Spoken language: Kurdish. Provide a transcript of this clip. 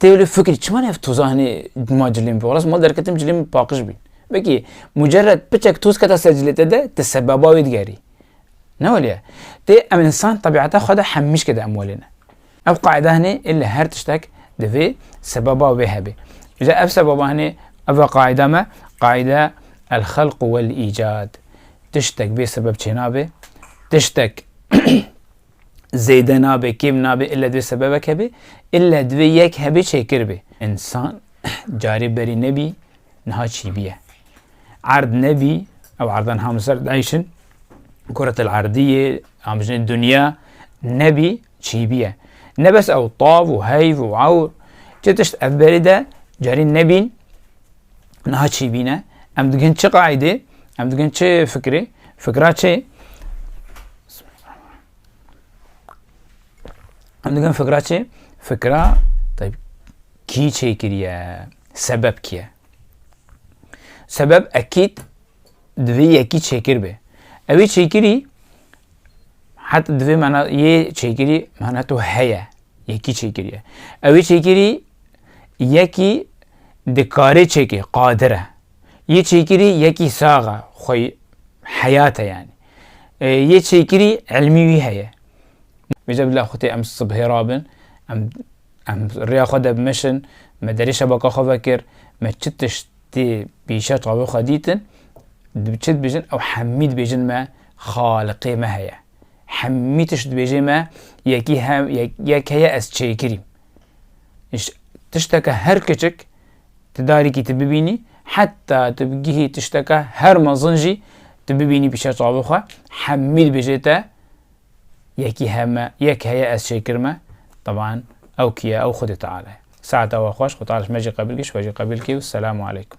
Tê wili fikir çima ev toza hinî ma cilên bi rast mal derketim cilên min paqij bîn. Vekî mucerred piçek toz keta ser cilê te de te sebeba wê digerî. Ne weliye. Tê em insan tebîata xwe de hemîşke de em welê ne. Ev qaîda hinî ê li her tiştek divê sebeba wê hebê. Îja ev sebaba hinî ev e qaîda me qaîda el xelq wel îcad. Tiştek bê sebeb çênabe. Tiştek zêde nabê, kêm nabê, ille divê sebebek hebe, ille divê yek hebê çêkir bê. Însan carê berî nebî, niha çîbîye. Erd nebî, ew erda niha min ser dayîşin, kuretel erdîyê, em bijînin dinya, nebî çîbîye. Ne bes ew tav û heyv û ewr, çi tişt ev berî de carî nebîn, Niha çi bîne? Em digin çi qaîdê? Em digin çi fikirê? Fikra çi? Em digin fikra çi? Fikra kî çêkiriye? Sebep kî ye? Sebep ekîd divê yekî çêkir be. Ew ê çêkirî heta divê mena yê çêkirî mena tu heye. Yekî çêkirî ye. Ewê çêkirî yekî dikarê çêkê, qadir e. Yê çêkirî yekî sax e, xwe heyat e yanî. Yê çêkirî ilmî wî heye. Vêca bila xwe tê em sibhê rabin, em em rêya xwe de bimeşin, me derê şebaka xwe vekir, me çi tişt tê pîşa çavê xwe dîtin, çi dibêjin ew hemî dibêjin me xaliqê me heye. Hemî tişt dibêjê me yekî he yek heye ez çêkirîm. Îş tişteke her kiçik ti darîkî ti bibînî heta tu bigihî tişteke her mezin jî tu bibînî pîşa çavê xwe hemî dibêjê te yekî heme yek heye ez çêkirme taban ew kî ye ew xwedê teala ye. Saeta we xweş xwe teala ji me jî qebil kî ji we jî qebil kî û selamu aleykum.